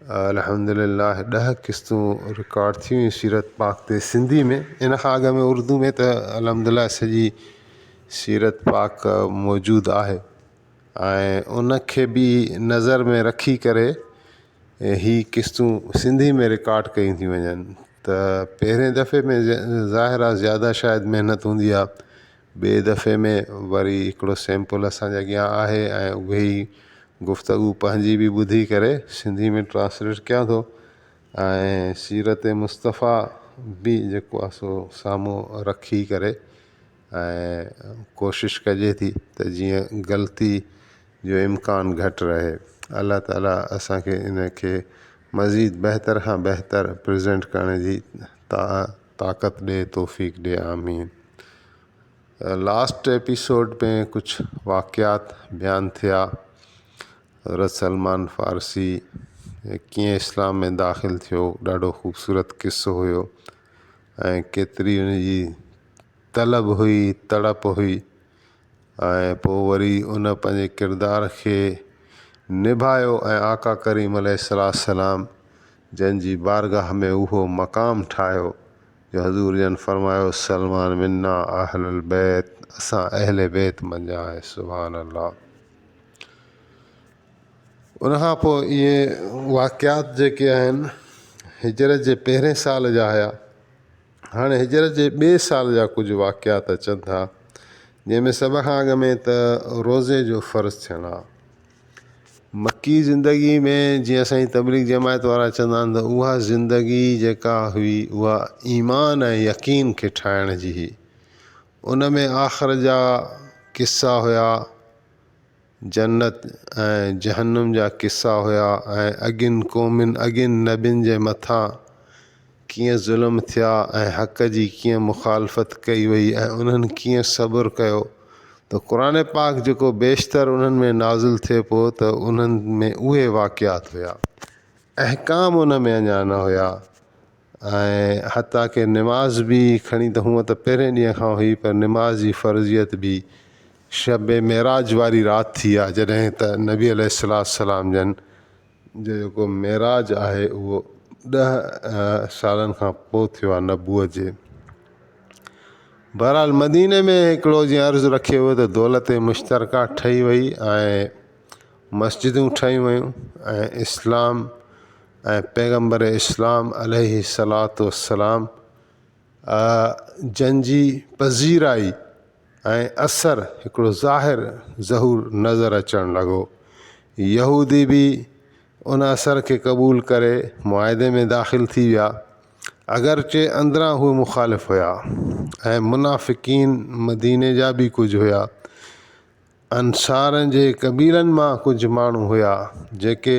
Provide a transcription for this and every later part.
الحمدلله ڏهه قسطون رڪارڊ ٿي ويون سيرت پاڪ تي سنڌي ۾ ان کان اڳ ۾ اردو ۾ ته الحمدلله سڄي سيرت پاڪ موجود آهي ۽ ان کي به نظر ۾ رکي ڪري هي قسطون سنڌي ۾ رڪارڊ ڪيون ٿي وڃن ته پهرين دفعي ۾ ظاهر آهي زياده شايد محنت هوندي آهي ٻئي دفعي ۾ وري هڪڙو سيمپل اسانجي اڳيان آهي ۽ اهي ئي گفتگو پنهنجي به ٻڌي ڪري سنڌي ۾ ٽرانسليٽ ڪيان ٿو ۽ سيرت مصطفيٰ به جيڪو آهي سو سامهون رکي ڪري ۽ ڪوشش ڪجي ٿي ته جيئن غلطي جو امڪان گهٽ رهي الله تعاليٰ اسانکي انکي مزيد بهتر کان بهتر پريزنٽ ڪرڻ جي طاقت ڏي توفيق ڏي آمين. لاسٽ ايپيسوڊ ۾ ڪجھ واقعات بيان ٿيا حضرت سلمان فارسي ڪيئن اسلام ۾ داخل ٿيو ڏاڍو خوبصورت قصو هيو ۽ ڪيتري ان جي طلب هئي تڙپ هئي ۽ پوء وري ان پنهنجي ڪردار کي نڀايو ۽ آقا ڪريم عليه السلام جنھن جي بارگاھ ۾ اھو مقام ٺاھيو جو حضور جن فرمايو سلمان منا اھل البيت اسان اھل بيت منجھان آھي سبحان الله ان کان پوء اھي واقعات جيڪي آھن ھجرت جي پھرين سال جا ھيا ھاڻي ھجرت جي ٻئي سال جا ڪجھ واقعات اچن ٿا جنھن ۾ سڀ کان اڳ ۾ ته روزي جو فرض ٿيڻ آ. مڪي زندگي ۾ جيئن اسان جي تبليغ جماعت وارا چوندا آهن ته اها زندگي جيڪا هئي اها ايمان ۽ يقين کي ٺاهڻ جي هئي ان ۾ آخر جا قصا هيا جنت ۽ جهنم جا قصا هيا ۽ اڳين قومين اڳين نبين جي مٿان ڪيئن ظلم ٿيا ۽ حق جي ڪيئن مخالفت ڪئي وئي ۽ انهن ڪيئن صبر ڪيو ته قرآن پاڪ جيڪو بيشتر انهن ۾ نازل ٿئي پيو ته انهن ۾ اهي واقعات هيا احڪام ان ۾ اڃا نه هيا ۽ حتيٰ ڪي نماز به کڻي ته هونء ته پهرين ڏينهن کان هئي پر نماز جي فرضيت به شب معراج واري رات ٿي آهي جڏهن ته نبي عليه السلام جن جو جيڪو معراج آهي اهو ڏهه سالن کان پوء ٿيو آهي نبوء جي بهرحال مديني ۾ هڪڙو جيئن عرض رکيو ويو ته دولت مشترڪا ٺهي وئي ۽ مسجدون ٺهيون ويون ۽ اسلام ۽ پيغمبر اسلام عليه صلات وسلام جن جي پذيرائي ۽ اثر هڪڙو ظاهر ظهور نظر اچڻ لڳو. يهودي به ان اثر کي قبول ڪري معاهدي ۾ داخل ٿي ويا، اگرچه اندران هو مخالف هيا ۽ منافقين مديني جا به ڪجهه هيا. انصارن جي قبيلن مان ڪجهه ماڻهو هيا، جيڪي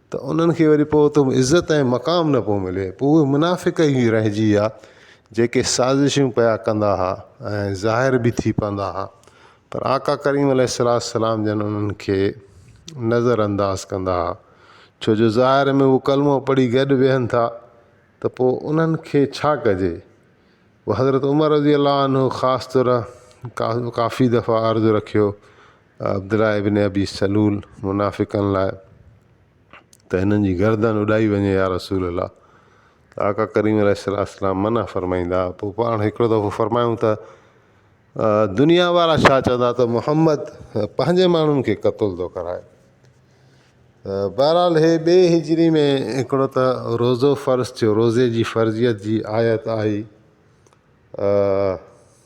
ته انهن کي وري پوء اتي عزت ۽ مقام نه پيو ملي پوء اهي منافق ئي رهجي ويا جيڪي سازشون پيا ڪندا ها ۽ ظاهر به ٿي پوندا ها پر آقا ڪريم عليه الصلوة والسلام جن انهن کي نظر انداز ڪندا ها ڇو جو ظاهر ۾ هو ڪلمو پڙهي گڏ ويهن ٿا ته پوء انهن کي ڇا ڪجي حضرت عمر رضي الله عنه خاص طرح ڪافي دفعا عرض رکيو عبدالله ابن ابي سلول منافقن لاء ته هنن جي گردن اڏائي وڃي يا رسول الله ته آقا ڪريم عليه الصلاة والسلام منع فرمائيندا پوء پاڻ هڪڙو دفعو فرمايون ته دنيا وارا ڇا چوندا ته محمد پنهنجي ماڻهن کي قتل ٿو ڪرائي ته بهرحال هي ٻي هجري ۾ هڪڙو ته روزو فرض ٿيو روزي جي فرضيت جي آيت آئي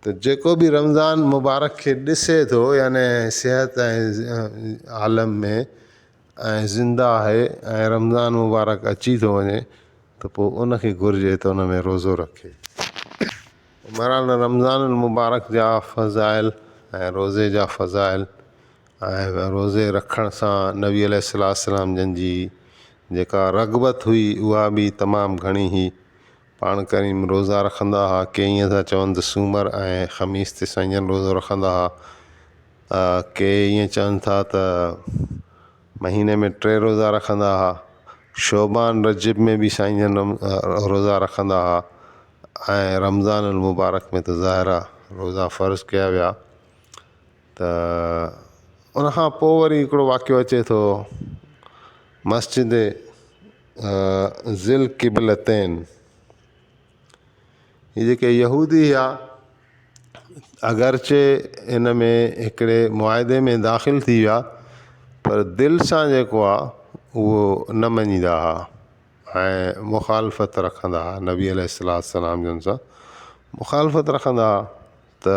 ته جيڪو به رمضان مبارڪ کي ڏسي ٿو يعني صحت ۽ عالم ۾ ۽ زنده آهي ۽ رمضان مبارڪ اچي ٿو وڃي ته پوء ان کي گهرجي ته ان ۾ روزو رکي. بهرحال رمضان المبارڪ جا فضائل ۽ روزي جا فضائل ۽ روزي رکڻ سان نبي عليه السلام جن جي جيڪا رغبت هئي اها به تمام گهڻي هئي. پاڻ ڪريم روزا رکندا ھئا، ڪي ائين ٿا چون ته سومر ۽ خميس تي سائين جن روزو رکندا ھئا، ڪي ائين چون ٿا ته مھيني ۾ ٽي روزا رکندا ھئا، شعبان رجب ۾ به سائين جن روزا رکندا ھئا ۽ رمضان المبارڪ ۾ ته ظاھر آ روزا فرض ڪيا ويا ته ان کان پوء وري ھڪڙو واقعو اچي ٿو مسجد ذي القبلتين هي جيڪي يهودي هيا اگرچه ان ۾ هڪڙي معاهدي ۾ داخل ٿي ويا پر دل سان جيڪو آ اهو نه مڃيندا ها ۽ مخالفت رکندا ها نبي عليه الصلوة والسلام جن سان مخالفت رکندا ها ته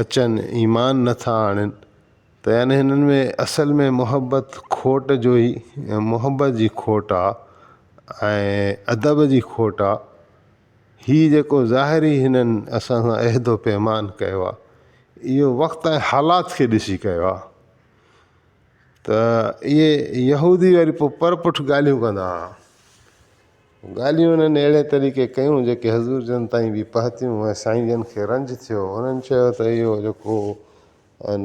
اچن ايمان نه ٿا آڻين ته يعني هنن ۾ اصل ۾ محبت کوٽ جو ئي محبت جي کوٽ آ ۽ ادب جي کوٽ آ هي جيڪو ظاهري هنن اسان سان عهد و پيمان ڪيو آ اهو وقت ۽ حالات کي ڏسي ڪيو آ ته اهي يهودي وري پوء پر پٺ ڳالهيون ڪندا ها ڳالهيون انهن اهڙي طريقي ڪيون جيڪي حضور جن تائين به پهتيون ۽ سائين جن کي رنج ٿيو. انهن چيو ته اهو جيڪو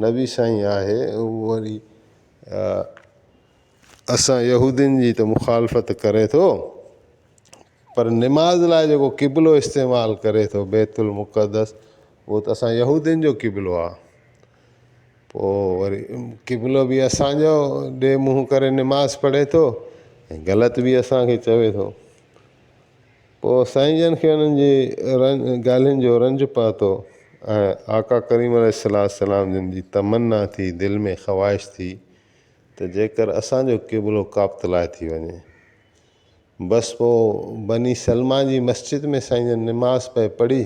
نبي سائين آهي اهو وري اسان يهودين جي ته مخالفت ڪري ٿو پر نماز لاء جيڪو قبلو استعمال ڪري ٿو بيت المقدس اهو ته اسان يهودين جو قبلو آهي. پوء وري قبلو به اسانجو ڏي منهن ڪري نماز پڙهي ٿو ۽ غلط به اسانکي چوي ٿو پوء سائين جن کي انهن جي ڳالهين جو رنج پهتو ۽ آقا ڪريم عليه الصلا والسلام جن جي تمنا ٿي دل ۾ خواهش ٿي ته جيڪر اسانجو قبلو ڪابت لاء ٿي وڃي بس پوء بني سلمه جي مسجد ۾ سائين جن نماز پئي پڙهي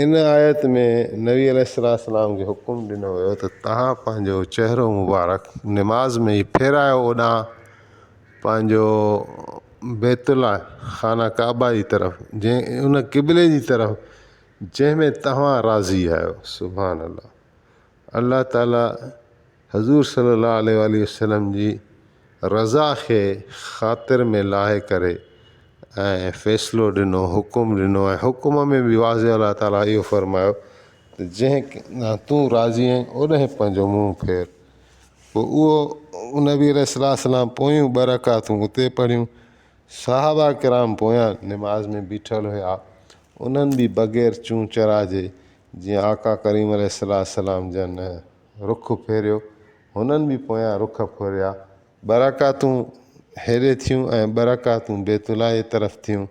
ان آيت ۾ نبي عليه السلام کي حڪم ڏنو ويو ته توهان پنهنجو چهرو مبارڪ نماز ۾ ئي ڦيرايو اوڏانهن پنهنجو بيت الله خانه ڪعبه جي طرف جنهن ان قبلي جي طرف جنهن ۾ توهان راضي آهيو سبحان الله الله تعالي حضور صلي الله عليه واٰله وسلم جي رضا کي خاطر ۾ لاهي ڪري ۽ فيصلو ڏنو حڪم ڏنو ۽ حڪم ۾ به واضح الله تعالٰي اهو فرمايو ته جنهن ڏانهن تون راضي آهين اوڏانهن پنهنجو منهن ڦير پوء اهو نبي عليه الصلوة والسلام پويون ٻه رڪعتون اتي پڙهيون صحابه ڪرام پويان نماز ۾ بيٺل هيا انهن به بغير چون چرا جي جيئن آقا ڪريم عليه الصلوة والسلام جن رخ ڦيريو، هنن به پويان رخ ڦيريا. ٻه رڪعتون هيڏي ٿيون ۽ ٻه رڪعتون بيت الله جي طرف ٿيون،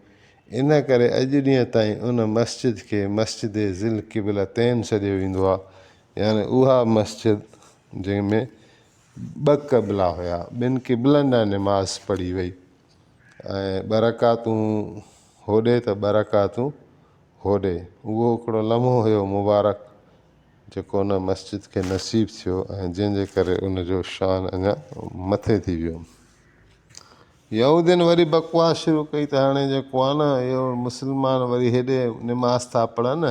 ان ڪري اڄ ڏينهن تائين ان مسجد کي مسجد ذي القبلتين سڏيو ويندو آهي، يعني اها مسجد جنهن ۾ ٻه قبلا هيا، ٻن قبلن ڏانهن نماز پڙهي وئي ۽ ٻه رڪعتون هوڏي ته ٻه رڪعتون هوڏي، اهو هڪڙو لمحو هيو مبارڪ. جيڪو ان مسجد کي نصيب ٿيو ۽ جنهن جي ڪري ان جو شان اڃا مٿي ٿي ويو. يهودين وري بڪواس شروع ڪئي ته هاڻي جيڪو آهي نه اهو مسلمان وري هيڏي نماز ٿا پڙهن،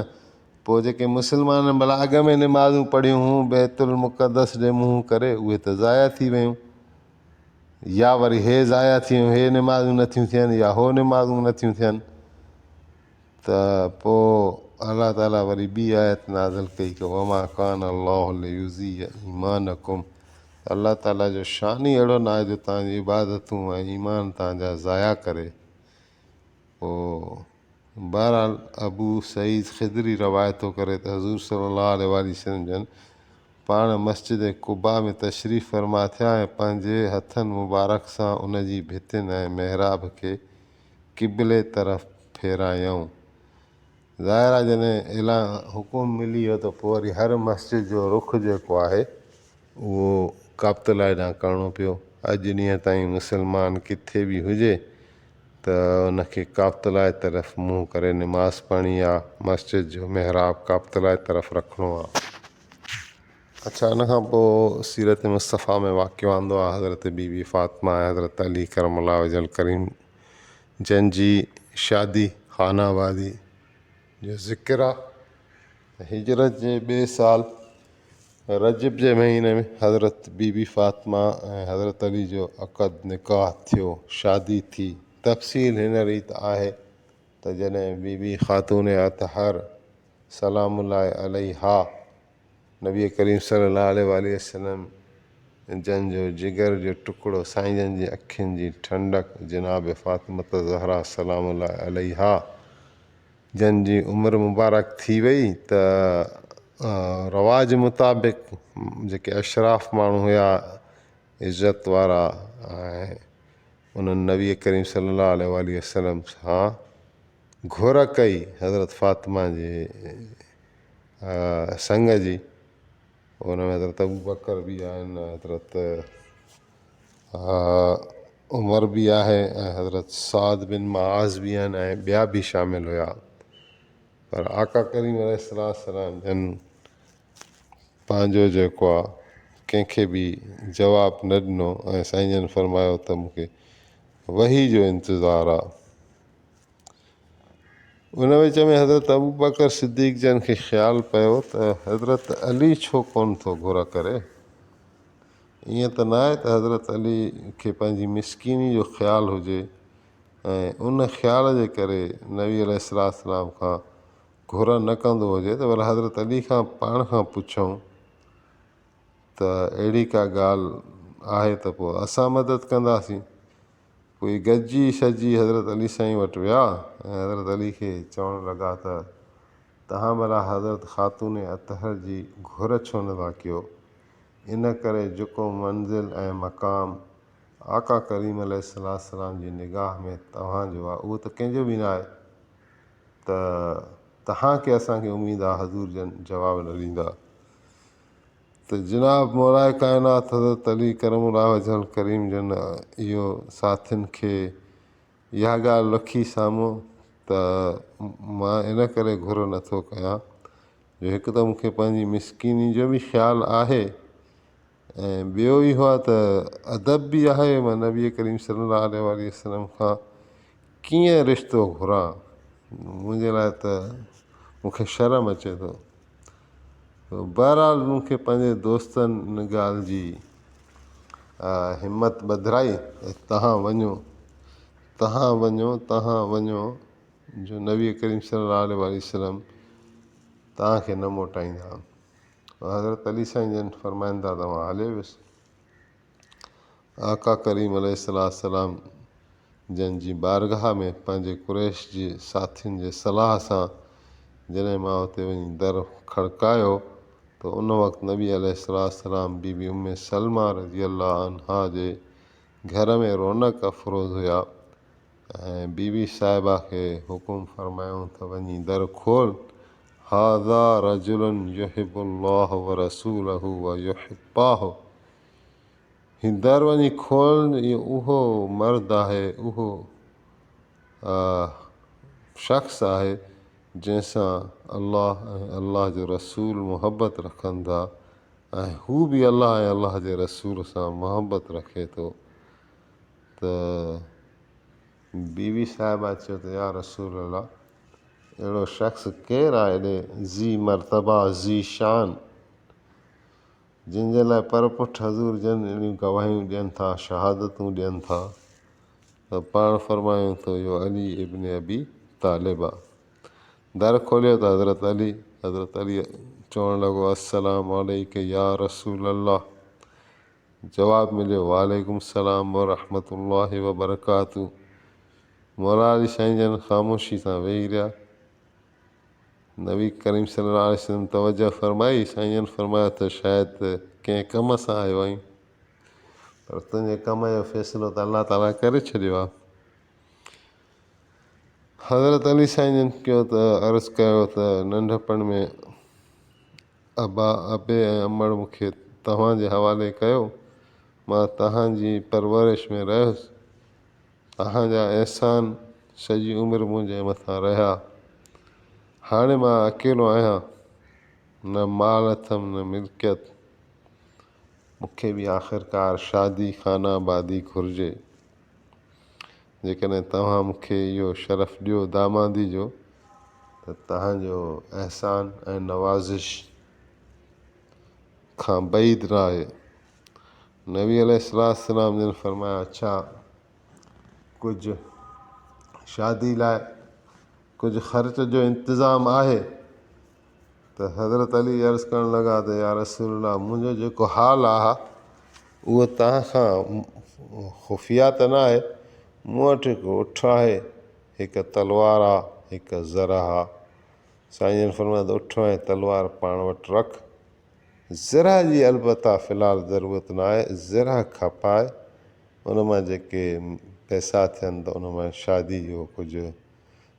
پوء جيڪي مسلمانن ڀلا اڳ ۾ نمازون پڙهيون هون بيت المقدس ڏي منهن ڪري اهي ته ضايع ٿي ويون يا وري هي ضايع ٿي ويون هي نمازون نٿيون ٿين يا هو نمازون نٿيون ٿين. ته پوء الله تعالي وري ٻي آيت نازل ڪئي ته وما ڪان الله ليضيع ايمانڪم ته الله تعالي جو شان ئي اهڙو ناهي جو توهان جون عبادتون ۽ ايمان توهان جا ضايع ڪري پوء بهرحال ابو سعيد خدري روايت ٿو ڪري ته حضور صلي الله عليه وآله وسلم جن پاڻ مسجد قباء ۾ تشريف فرما ٿيا ۽ پنهنجي هٿن مبارڪ سان ان جي ڀتين ۽ محراب کي قبلي طرف ڦيرايائون. ظاهر آهي جڏهن اعلان حڪم ملي ويو ته پوء وري هر مسجد جو رخ جيڪو آهي اهو ڪعبت الله ڏانهن ڪرڻو پيو. اڄ ڏينهن تائين مسلمان ڪٿي به هجي ته ان کي ڪعبت الله طرف منهن ڪري نماز پڙهڻي آهي، مسجد جو محراب ڪعبت الله طرف رکڻو آهي. اڇا ان کان پوء سيرت مصطفيٰ ۾ واقعو آندو آهي حضرت بي بي فاطمه ۽ حضرت علي ڪرم الله وجه الڪريم جن جي شادي خانه آبادي جو ذڪر آ ته هجرت جي ٻئي سال رجب جي مهيني ۾ حضرت بي بي فاطمه ۽ حضرت علي جو عقد نڪاح ٿيو شادي ٿي تفصيل هن ريت آهي ته جڏهن بي بي خاتون اطهر سلام الله عليها نبي ڪريم صلّي اللّٰه عليه واٰله وسلّم جن جو جگر جو ٽڪڙو سائين جن جي اکين جي ٺنڊڪ جناب فاطمة الزهراء سلام الله عليها جن جي عمر مبارڪ ٿي وئي ته رواج مطابق جيڪي اشراف ماڻهو هيا عزت وارا انهن نبي ڪريم صلّي اللّٰه عليه واٰله وسلّم سان گهر ڪئي حضرت فاطمه جي سڱ جي ان ۾ حضرت ابوبڪر به آهن حضرت عمر به آهي ۽ حضرت سعد بن معاذ به آهن ۽ ٻيا به شامل هيا پر آقا ڪريم عليه الصلوة والسلام جن پنهنجو جيڪو آ ڪنهنکي به جواب نه ڏنو ۽ سائين جن فرمايو ته مونکي وحي جو انتظار آ ان وچ ۾ حضرت ابوبڪر صديق جن کي خيال پيو ته حضرت علي ڇو ڪون ٿو گهر ڪري ائين ته نه آهي ته حضرت علي کي پنهنجي مسڪيني جو خيال هجي ۽ ان خيال جي ڪري نبي عليه الصلاة والسلام کان گهر نه ڪندو هجي ته ڀلا حضرت علي کان پاڻ کان پڇون ته اهڙي ڪا ڳالهه آهي ته پوء اسان مدد ڪنداسين پوء گڏجي شڏجي حضرت علي سائين وٽ ويا ۽ حضرت علي کي چوڻ لڳا ته توهان ڀلا حضرت خاتون اطهر جي گهر ڇو نه ٿا ڪيو؟ ان ڪري جيڪو منزل ۽ مقام آقا ڪريم عليه السلام جي نگاهه ۾ توهان جو آهي اهو ته ڪنهن جو به نه آهي ته توهان کي اسان کي اميد آهي حضور جن جواب نه ڏيندا. ته جناب مورائي ڪائنات حضرت علي ڪرم الله وجه الڪريم جن اهو ساٿين کي اها ڳالهه رکي سامهون ته مان ان ڪري گهر نه ٿو ڪيان جو هڪ ته مون کي پنهنجي مسڪيني جو به خيال آهي ۽ ٻيو اهو آهي ته ادب به آهي مان نبي ڪريم صلي الله عليه وآله وسلم کان ڪيئن رشتو گهران منهنجي لاء ته مون کي شرم اچي ٿو بهرحال مون کي پنهنجي دوستن ان ڳالهه جي همت ٻڌرائي ۽ تهان وڃو تهان وڃو تهان وڃو جو نبي ڪريم صلي الله عليه وآله وسلم تهانکي نه موٽائيندا حضرت علي سائين جن فرمائن ٿا ته مان هليو ويس آقا ڪريم عليه السلام جن جي بارگاھ ۾ پنهنجي قريش جي ساٿين جي صلاح سان جڏهن مان اتي وڃي در کڙڪايو ته ان وقت نبي عليه السلام بي بي ام سلمه رضي الله عنها جي گهر ۾ رونق افروز هيا ۽ بي بي صاحبه کي حڪم فرمايائون ته وڃي در کول، هذا رجل يحب الله ورسوله ويحباه، هي در وڃي کول، هي اهو مرد آهي، اهو شخص آهي، جنهن سان الله ۽ الله جو رسول محبت رکن ٿا ۽ هو به الله ۽ الله جي رسول سان محبت رکي ٿو. ته بي بي صاحبه چيو ته يا رسول الله اهڙو شخص ڪير آهي ايڏي ذي مرتبه ذي شان جنهن جي لاء پر پٺ حضور جن اهڙيون گواهيون ڏين ٿا شهادتون ڏين ٿا ته پاڻ فرمايون ٿو اهو علي ابن ابي طالب آهي در کوليو ته حضرت علي حضرت علي چوڻ لڳو السلام عليڪ يا رسول الله جواب مليو، وعليڪم السلام ورحمة الله وبرڪاته. موراري سائين جن خاموشي سان ويهي رهيا. نبي ڪريم صلي الله عليه وسلم توجهه فرمائي، سائين جن فرمايو ته شايد ڪنهن ڪم سان آيو آهين، پر تنهنجي ڪم جو فيصلو ته الله تعاليٰ ڪري ڇڏيو آهي. حضرت علي سائين جن چيو ته عرض ڪيو ته ننڍپڻ ۾ ابا، ابي ۽ امڙ مون کي توهان جي حوالي ڪيو. مان توهان جي پرورش ۾ رهيس. توهان جا احسان سڄي عمر منهنجي مٿان رهيا. هاڻي مان اڪيلو آهيان. نه مال اٿم نه ملڪيت. مون کي به آخرڪار شادي خانه آبادي گهرجي. جيڪڏهن توهان مون کي اهو شرف ڏيو دامادي جو ته توهان جو احسان ۽ نوازش کان بعيد نه آهي. نبي عليه السلام جن فرمايو، اڇا! ڪجهه شادي لاء ڪجهه خرچ جو انتظام آهي؟ ته حضرت علي عرض ڪرڻ لڳا ته يارسول الله منهنجو جيڪو حال آهي اهو توهان کان خفيه ته نه آهي مون وٽ هڪ اٺ آهي هڪ تلوار آهي هڪ زرهه آهي سائين جن فرمايو ته اٺ ۽ تلوار پاڻ وٽ رک زرهه جي البته في الحال ضرورت نه آهي زرهه کپائي ان مان جيڪي پئسا ٿين ته ان مان شادي جو ڪجهه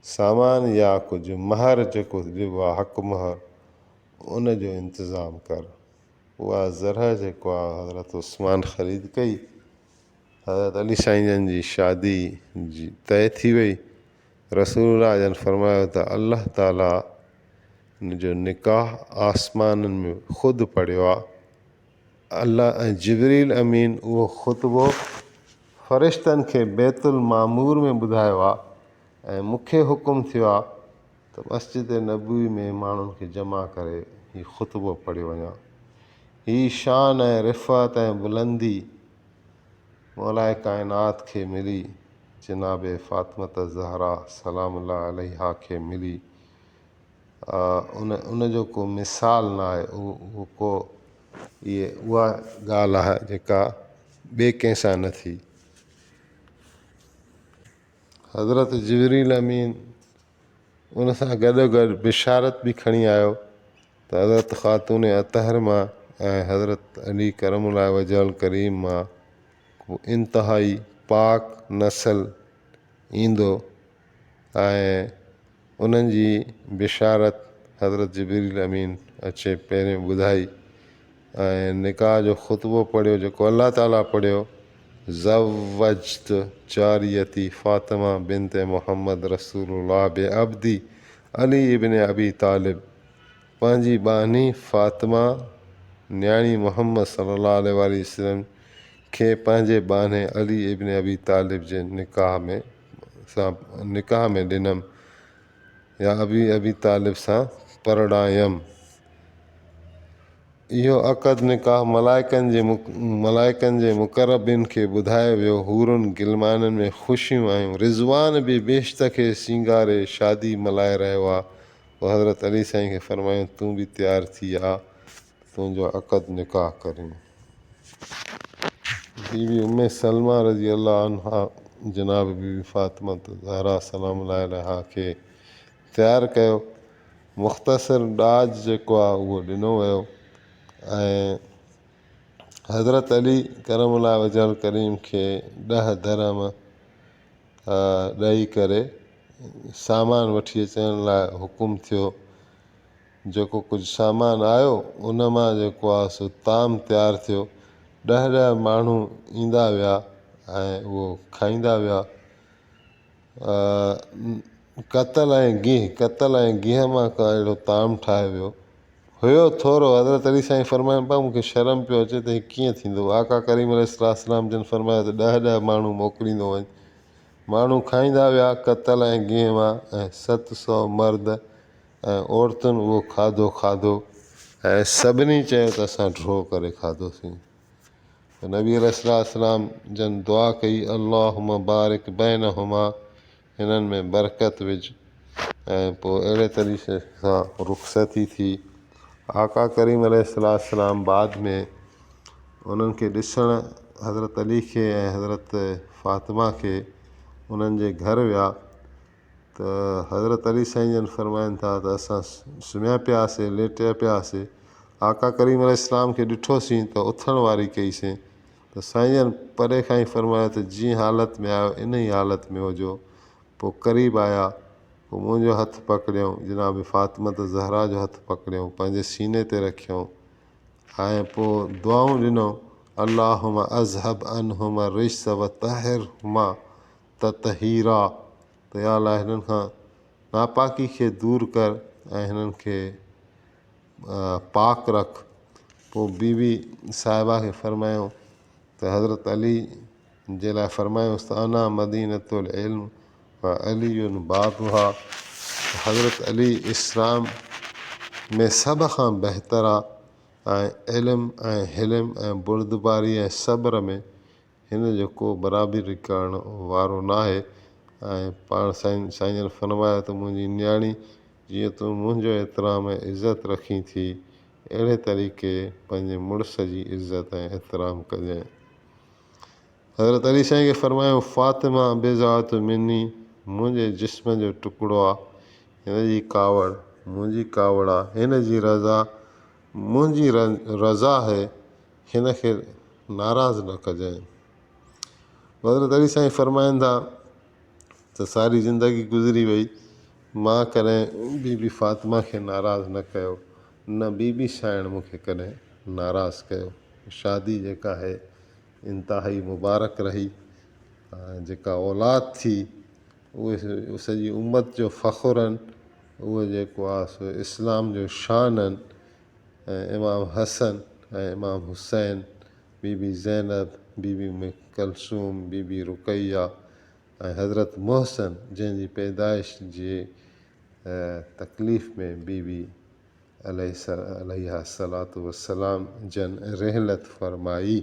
سامان يا ڪجهه مهر جيڪو ڏبو آهي حق مهر ان جو انتظام ڪر. اها زرع جيڪو آهي حضرت عثمان خريد ڪئي. حضرت علي سائين جن جي شادي جي طئي ٿي وئي. رسول الله جن فرمايو ته الله تعالي جو نڪاح آسمانن ۾ خود پڙهيو آهي. الله ۽ جبريل امين اهو خطبو فرشتن کي بيت المعمور ۾ ٻڌايو آ ۽ مون کي حڪم ٿيو آ ته مسجد نبوي ۾ ماڻهن کي جمع ڪري هي خطبو پڙهيو وڃان هي شان ۽ رفعت ۽ بلندي مولائي ڪائنات کي ملي جناب فاطمة الزهراء سلام الله عليها کي ملي ان ان جو ڪو مثال نه آهي اهو ڪو ائي اها ڳالهه آهي جيڪا ٻي ڪنهن سان نه ٿي حضرت جبريل امين ان سان گڏو گڏ بشارت بي کڻي آيو ته حضرت خاتون اطهر مان ۽ حضرت علي ڪرم الله وجه الڪريم مان ڪو انتهائي پاڪ نسل ايندو ۽ انهن جي بشارت حضرت جبريل امين اچي پهريون ٻڌائي ۽ نڪاح جو خطبو پڙهيو جيڪو الله تعالي پڙهيو، زوجت جاريتي فاطمه بنت محمد رسول الله بعبدي علي ابن ابي طالب پنهنجي ٻانهي فاطمه نياڻي محمد صلي الله عليه وآله وسلم کي پنهنجي ٻانهي علي ابن ابي طالب جي نڪاح ۾. سان نڪاح ۾ ڏنم يا ابي ابي طالب سان پرڻايم. اهو عقد نڪاح ملائڪن جي ملائڪن جي مقربين کي ٻڌايو ويو. حورن غلمانن ۾ خوشيون آيون. رضوان به بهشت کي سينگاري شادي ملهائي رهيو آ. پوء حضرت علي سائين کي فرمايائون، تون به تيار ٿي آ، تنهنجو عقد نڪاح ڪريون. بي بي ام سلمه رضي الله عنها جناب بي بي فاطمة الزهراء سلام الله عليها کي تيار ڪيو، مختصر ڏاج جيڪو آهي اهو ڏنو ويو ۽ حضرت علي ڪرم الله وجهه الڪريم کي ڏهه درهم ڏئي ڪري سامان وٺي اچڻ لاء حڪم ٿيو. جيڪو ڪجهه سامان آيو، ان مان جيڪو آ سو طعام تيار ٿيو. ڏهه ڏهه ماڻهو ايندا ويا ۽ اهو کائيندا ويا. قتل ۽ گيهه، قتل ۽ گيهه مان ڪو اهڙو طعام ٺاهيو ويو. هيو ٿورو، حضرت علي سائين فرمايائين، ڀاء مون کي شرم پيو اچي ته هي ڪيئن ٿيندو؟ آقا ڪريم عليه السلام جن فرمايو ته ڏهه ڏهه ماڻهو موڪليندو وڃ. ماڻهو کائيندا ويا قتل ۽ گيهه مان ۽ ست سؤ مرد ۽ عورتن اهو کاڌو کاڌو ۽ سڀني چيو ته اسان ڍو ڪري کاڌوسين ته نبي عليه الصلوة والسلام جن دعا ڪئي اللهم بارڪ بينهما هنن ۾ برڪت وجهه ۽ پوء اهڙي طريقي سان رخصتي ٿي آقا ڪريم عليه الصلوة والسلام بعد ۾ انهن کي ڏسڻ حضرت علي کي ۽ حضرت فاطمه کي انهن جي گهر ويا ته حضرت علي سائين جن فرمائن ٿا ته اسان سمهيا پيا هئاسين ليٽيا پيا هئاسين آقا ڪريم عليه السلام کي ڏٺوسين ته اٿڻ واري ڪئيسين ته سائين جن پري کان ئي فرمايو ته جي حالت ۾ آهيو ان ئي حالت ۾ هجو پوء قريب آيا پوء منهنجو هٿ پڪڙيائون جناب فاطمة الزهراء جو هٿ پڪڙيائون پنهنجي سيني تي رکيائون ۽ پوء دعائون ڏنائون اللهم اذهب عنهما الرجس وطهرهما تطهيرا، ته يا الله هنن کان ناپاڪي کي دور ڪر ۽ هنن کي پاڪ رک پوء بي بي صاحبه کي فرمايو ته حضرت علي جي لاء فرمايوس ته انا مدينة العلم و علي بابها ته حضرت علي اسلام ۾ سڀ کان بهتر آهي ۽ علم ۽ حلم ۽ بردباري ۽ صبر ۾ هن جو ڪو برابري ڪرڻ وارو ناهي ۽ پاڻ سائين سائين جن فرمايو ته منهنجي نياڻي جيئن تون منهنجو احترام ۽ عزت رکين ٿي اهڙي طريقي پنهنجي مڙس جي عزت ۽ احترام ڪجين حضرت علي سائين کي فرمايو فاطمه بضاعت مني منهنجي جسم جو ٽڪڙو آ هن جي ڪاوڙ منهنجي ڪاوڙ آ هن جي رضا منهنجي رضا آهي هن کي ناراض نه ڪجانء. حضرت علي سائين فرمائن ٿا ته ساري زندگي گذري وئي، مان ڪڏهن بي بي فاطمه کي ناراض نه ڪيو، نه بي بي سائڻ مون کي ڪڏهن ناراض ڪيو. شادي جيڪا آهي انتهائي مبارڪ رهي ۽ جيڪا اولاد ٿي اهي سڄي امت جو فخر آهن، اهو جيڪو آهي سو اسلام جو شان آهن. ۽ امام حسن ۽ امام حسين، بي بي زينب، بي بي ام ڪلثوم، بي بي رقيه ۽ حضرت محسن جنهن جي پيدائش جي تڪليف ۾ بي بي عليها الصلوة والسلام جن رحلت فرمائي.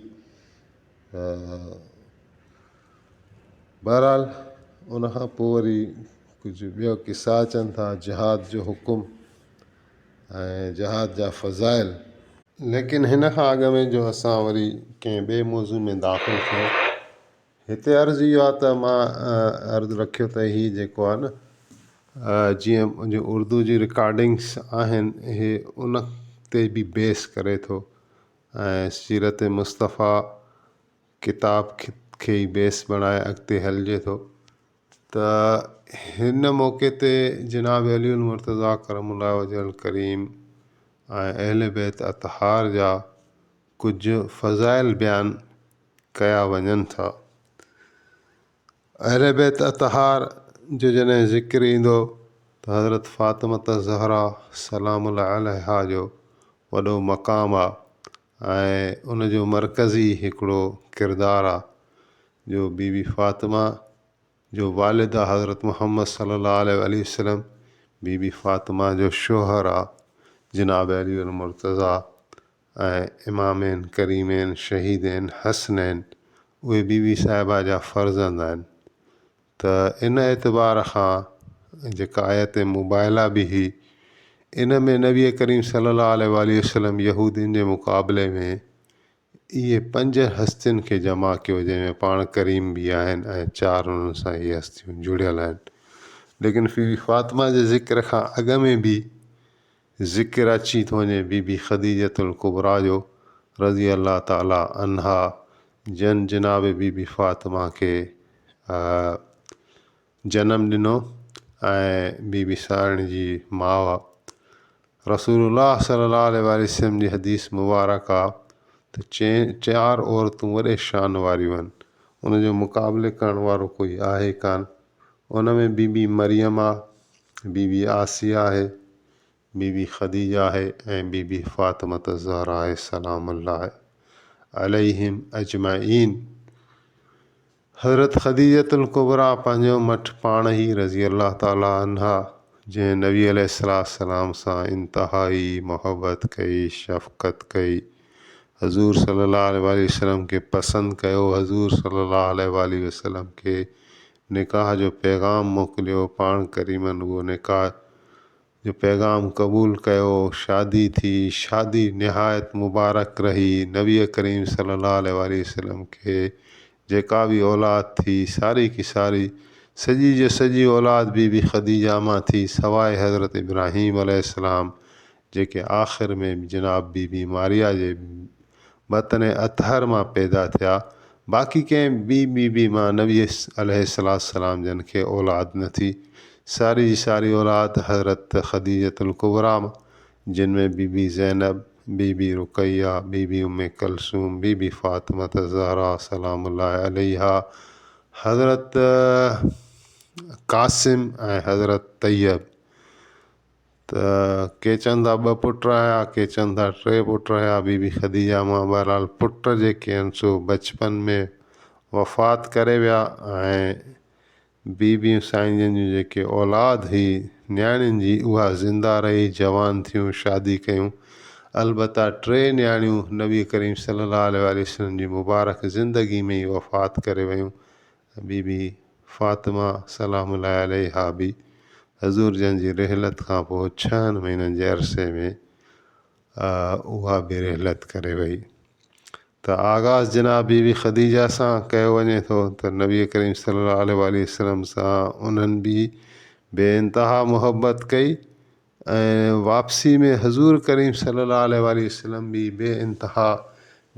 بهرحال ان کان پوء وري ڪجهه ٻيا قصا اچن ٿا جهاد جو حڪم. ۽ جهاد جا فضائل. ليڪن هن کان اڳ ۾ جو اسان وري ڪنهن ٻئي موضوع ۾ داخل ٿيون هتي عرض اهو آهي ته مان عرض رکيو ته هي جيڪو آهي نه جيئن جو اردو جي رڪارڊنگس آهن اهي ان تي به بيس ڪري ٿو ۽ سيرت مصطفيٰ ڪتاب کي ئي بيس بڻائي اڳتي هلجي ٿو. ته هن موقعي تي جناب علي المرتضيٰ ڪرم الله وجه الڪريم ۽ اهل بيت اطهار جا ڪجهه فضائل بيان ڪيا وڃن ٿا. اهل بيت اطهار جو جڏهن ذڪر ايندو ته حضرت فاطمة الزهراء سلام الله عليها جو وڏو مقام آهي ۽ ان جو مرڪزي هڪڙو ڪردار آ جو بي بي فاطمه جو والد آ حضرت محمد صلي الله عليه واٰله وسلم بي بي فاطمه جو شوهر آ جناب علي المرتضٰي ۽ امامين ڪريمين شهيدين حسنين اهي بي بي صاحبه جا فرزند آهن. ته ان اعتبار کان جيڪا آيت مباهله به هي ان ۾ نبي ڪريم صلي الله عليه وآله وسلم يهودين جي مقابلي ۾ اهي پنج هستين کي جمع ڪيو جنهن ۾ پاڻ ڪريم به آهن ۽ چار انهن سان اهي هستيون جڙيل آهن ليڪن فيبي فاطمه جي ذڪر کان اڳ ۾ به ذڪر اچي ٿو وڃي بي بي خديجة الڪبريٰ جو رضي الله تعالٰي عنها جنھن جناب بي بي فاطمه کي جنم ڏنو ۽ بي بي سارڻ جي ماء رسول الله صلي الله عليه واٰله وسلم جي حديث مبارڪ آ ته چئين چار عورتون وڏي شان واريون آھن ان جو مقابلي ڪرڻ وارو ڪوئي آھي ڪان. ان ۾ بي بي مريم آ، بي بي آسيه آهي، بي بي خديجه آهي ۽ بي بي فاطمة الزهراء آهي سلام الله عليهم اجمعين. حضرت خديجة الڪبريٰ پنهنجو مٺ پاڻ هي رضي الله تعالٰي عنها جنهن نبي عليه السلام سان انتهائي محبت ڪئي، شفقت ڪئي، حضور صلي الله عليه واٰله وسلم کي پسند ڪيو، حضور صلي الله عليه واٰله وسلم کي نڪاح جو پيغام موڪليو، پاڻ ڪريمن اهو نڪاح جو پيغام قبول ڪيو، شادي ٿي، شادي نهايت مبارڪ رهي، نبي ڪريم صلي الله عليه واٰله وسلم کي جيڪا به اولاد ٿي ساري ڪي ساري سڄي جو سڄي اولاد بي بي خديجه مان ٿي سواء حضرت ابراهيم عليه السلام جيڪي آخر ۾ جناب بي بي ماريا جي بطن اطهر مان پيدا ٿيا، باقي ڪنهن ٻي بي بي مان نبي عليه السلام جن کي اولاد نه ٿي، ساري جي ساري اولاد حضرت خديجة الڪبريٰ مان، جن ۾ بي بي زينب، بي بي رقيه، بي بي ام ڪلثوم، بي بي فاطمة الزهراء سلام الله عليها، حضرت قاسم ۽ حضرت طيب. ته ڪي چون ٿا ٻه پٽ رهيا ڪي چون ٿا ٽي پٽ رهيا بي بي خديجه مان بهرحال پٽ جيڪي آهن سو بچپن ۾ وفات ڪري ويا ۽ بي بيون سائين جن جون جيڪي اولاد هئي نياڻين جي اها زنده رهي جوان ٿيون شادي ڪيون البته ٽي نياڻيون نبي ڪريم صلي الله عليه وآله وسلم جي مبارڪ زندگي ۾ ئي وفات ڪري ويون بي بي فاطمه سلام الله عليها به حضور جن جي رحلت کان پوء ڇهن مهينن جي عرصي ۾ اها به رحلت ڪري وئي ته آغاز جناب بي بي خديجه سان ڪيو وڃي ٿو ته نبي ڪريم صلي الله عليه وآله وسلم سان انهن به بي انتها محبت ڪئي ۽ واپسي ۾ حضور ڪريم صلي الله عليه واٰله وسلم بي بي انتها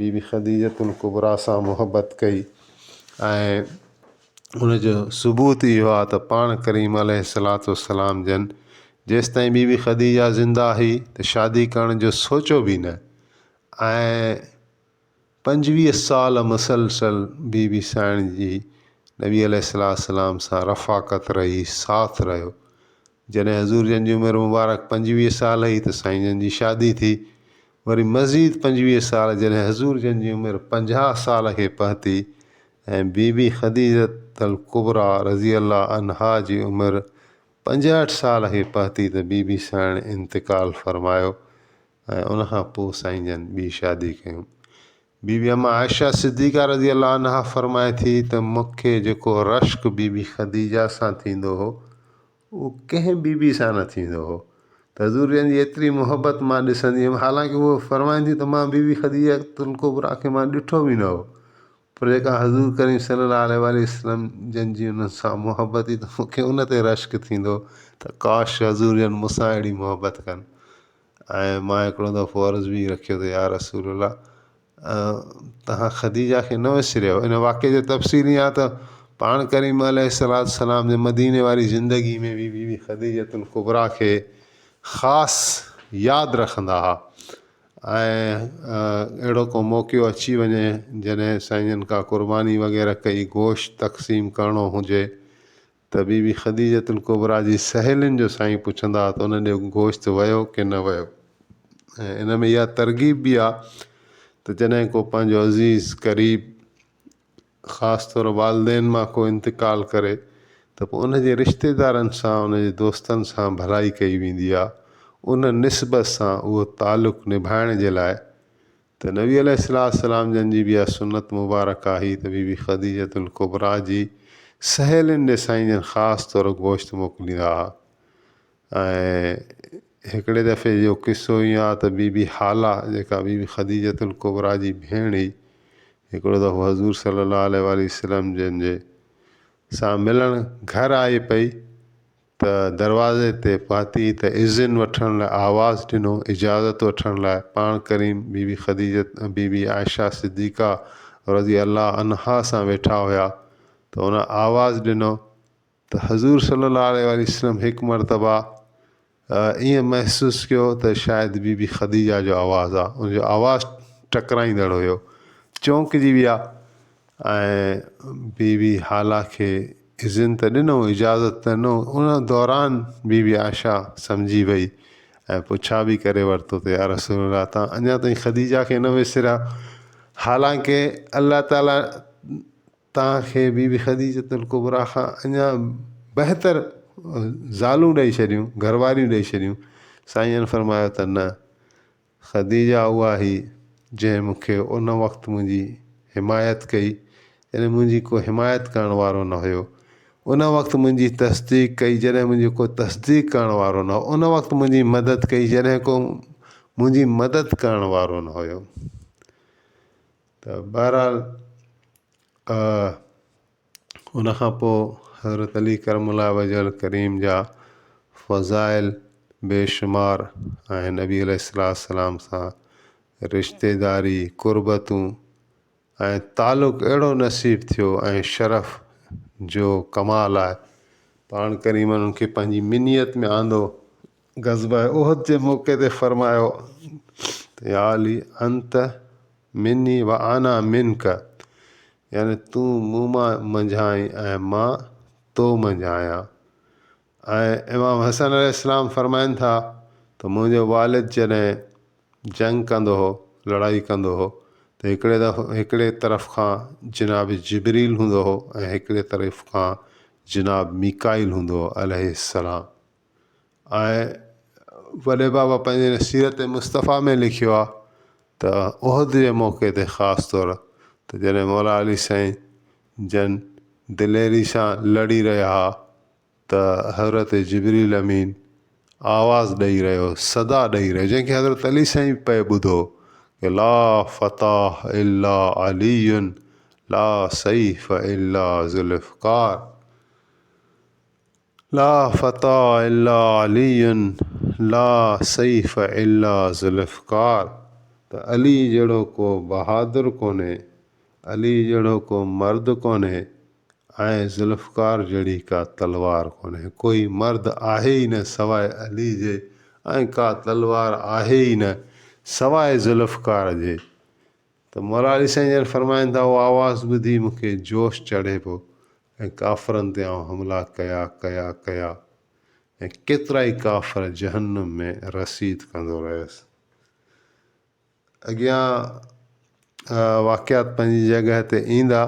بي بي خديجة الڪبريٰ سان محبت ڪئي ۽ ان جو ثبوت اهو آهي ته پاڻ ڪريم عليه الصلوة والسلام جن جيستائين بي بي خديجة زنده هئي ته شادي ڪرڻ جو سوچيو به نه ۽ پنجويهه سال مسلسل بي بي سائڻ جي نبي عليه الصلوة والسلام سان رفاقت رهي ساٿ رهيو جڏهن حضور جن جي عمر مبارڪ پنجويهه سال هئي ته سائين جن جي شادي ٿي، وري مزيد پنجويهه سال جڏهن حضور جن جي عمر پنجاهه سال کي پهتي ۽ بي بي خديجة الڪبريٰ رضي الله عنها جي عمر پنجهٺ سال کي پهتي ته بي بي سائڻ انتقال فرمايو ۽ ان کان پوء سائين جن ٻي شادي ڪيم. بي بي ام عائشه صديقه رضي الله عنها فرمائي ٿي ته مون کي جيڪو رشڪ بي بي خديجه سان ٿيندو هو اهو ڪنهن بي بي سان نه ٿيندو هو ته حضور جن جي ايتري محبت مان ڏسندي هيم حالانڪه هوء فرمائين ٿي ته مان بي بي خديجه الڪبريٰ کي مان ڏٺو به نه هو پر جيڪا حضور ڪريم صلي الله عليه واٰله وسلم جن جي انهن سان محبت هئي ته مون کي ان تي رشڪ ٿيندو هو ته ڪاش حضور جن مون سان اهڙي محبت ڪن ۽ مان هڪڙو دفعو عرض به رکيو ته يا رسول الله تهان خديجه کي نه وسريو ان واقعي جو تفصيل اها ته پاڻ ڪريم عليه الصلاة والسلام جي مديني واري زندگي ۾ بي بي بي خديجه الڪبريٰ کي خاص ياد رکندا هئا ۽ اهڙو ڪو موقعو اچي وڃي جڏهن سائين جن کا قرباني وغيره ڪئي گوشت تقسيم ڪرڻو هجي ته بي بي خديجة الڪبريٰ جي سهيلين جو سائين پڇندا ته ان ڏي گوشت ويو ڪي نه ويو ۽ ان ۾ اها ترغيب به آ ته جڏهن ڪو پنهنجو عزيز قريب خاص طور والدين مان ڪو انتقال ڪري ته پوء ان جي رشتيدارن سان ان جي دوستن سان ڀلائي ڪئي ويندي آ ان نسبت سان اهو تعلق نڀائڻ جي لاء ته نبي عليه السلام جن جي به اها سنت مبارڪه آهي ته بي بي خديجة الڪبريٰ جي سهيلين ڏي سائين جن خاص طور گوشت موڪليندا ها ۽ هڪڙي دفعي جو قصو ائين آهي ته بي بي هالا جيڪا بي بي خديجة الڪبريٰ جي ڀيڻ هئي هڪڙو دفعو حضور صلي الله عليه وآله وسلم جن جي سان ملڻ گهر آئي پئي ته دروازي تي پهتي ته اذن وٺڻ لاء آواز ڏنو، اجازت وٺڻ لاء پاڻ ڪريم بي بي خديجه ۽ بي بي عائشه صديقه رضي الله عنها سان ويٺا هيا ته هن آواز ڏنو ته حضور صلي الله عليه واٰله وسلم هڪ مرتبه ائين محسوس ڪيو ته شايد بي بي خديجه جو آواز آ ان جو آواز ٽڪرائيندڙ هيو چونڪجي ويا ۽ بي بي هالا کي اذن ته ڏنو اجازت ته ڏنو ان دوران بي بي عائشه سمجهي وئي ۽ پڇا به ڪري ورتو ته يا رسول الله تان اڃا تائين خديجه کي نه وسريا حالانڪ الله تعالي تان کي بي بي خديجه الڪبريٰ کان اڃا بهتر زالون ڏئي ڇڏيون گهر واريون ڏئي ڇڏيون سائين جن فرمايو ته نه خديجه اها هئي، جنهن مون کي ان وقت منهنجي حمايت ڪئي، جڏهن منهنجي ڪو حمايت ڪرڻ وارو نه هيو. ان وقت منهنجي تصديق ڪئي، جڏهن منهنجي ڪو تصديق ڪرڻ وارو نه هو. ان وقت منهنجي مدد ڪئي، جڏهن ڪو منهنجي مدد ڪرڻ وارو نه هيو. ته بهرحال، ان کان پوء حضرت علي ڪرم الله وجه الڪريم جا فضائل بيشمار ۽ نبي عليه الصلاة والسلام سان رشتيداري، قربتون ۽ تعلق اهڙو نصيب ٿيو ۽ شرف جو ڪمال آهي پاڻ ڪريم انهن کي پنهنجي منيت ۾ آندو غزوه احد جي موقعي تي فرمايو ته يا علي انت مني وانا منک يعني تون مون مان منجهان آهين ۽ مان تو منجهان آهيان ۽ امام حسن عليه السلام فرمائن ٿا ته منهنجو والد جڏهن جنگ ڪندو هو لڙائي ڪندو هو ته هڪڙي دفعو هڪڙي طرف کان جناب جبريل هوندو هو ۽ هڪڙي طرف کان جناب ميڪائيل هوندو هو عليه السلام ۽ وڏي بابا پنهنجي سيرت مصطفيٰ ۾ لکيو آهي ته احد جي موقعي تي خاص طور ته جڏهن مولا علي سائين جن دليري سان لڙي رهيا ها ته حضرت جبريل امين آواز ڏئي رهيو صدا ڏئي رهيو جنهن کي حضرت علي سائين پئي ٻڌو ڪي لا فتاح الا علي لا سيف الا ذوالفقار لا فتى الا علي لا سيف الا ذوالفقار ته علي جهڙو ڪو بهادر ڪونهي، علي جهڙو ڪو مرد ڪونهي ۽ ذوالفقار جهڙي ڪا تلوار ڪونهي. ڪوئي مرد آهي ئي نه سواء علي جي ۽ ڪا تلوار آهي ئي نه سواء ذوالفقار جي. ته مراري سائين ڄڻ فرمائن ٿا، اهو آواز ٻڌي مون کي جوش چڙهي پيو ۽ ڪافرن تي آئون حملا ڪيا، ڪيا، ڪيا ۽ ڪيترائي ڪافر جهنم ۾ رسيد ڪندو رهيس. اڳيان واقعات پنهنجي جڳهه تي ايندا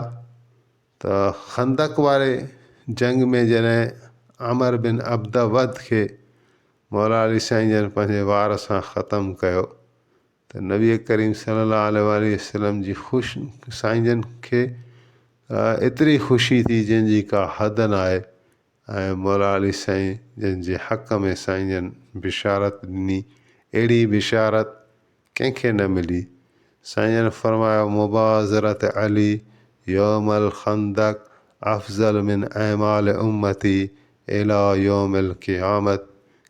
ته خندق واري جنگ ۾ جڏهن عمر بن عبده ود کي مراري سائين ڄڻ پنهنجي وار سان ختم ڪيو ته نبي ڪريم صلي الله عليه واٰله وسلم جي خوش سائين جن کي ايتري خوشي ٿي جنهن جي ڪا حد نه آهي ۽ مولا علي سائين جن جي حق ۾ سائين جن بشارت ڏني اهڙي بشارت ڪنهن کي نه ملي سائين جن فرمايو مبازرت علي يوم الخندق افضل من اعمال امتي اليٰ يوم القيامت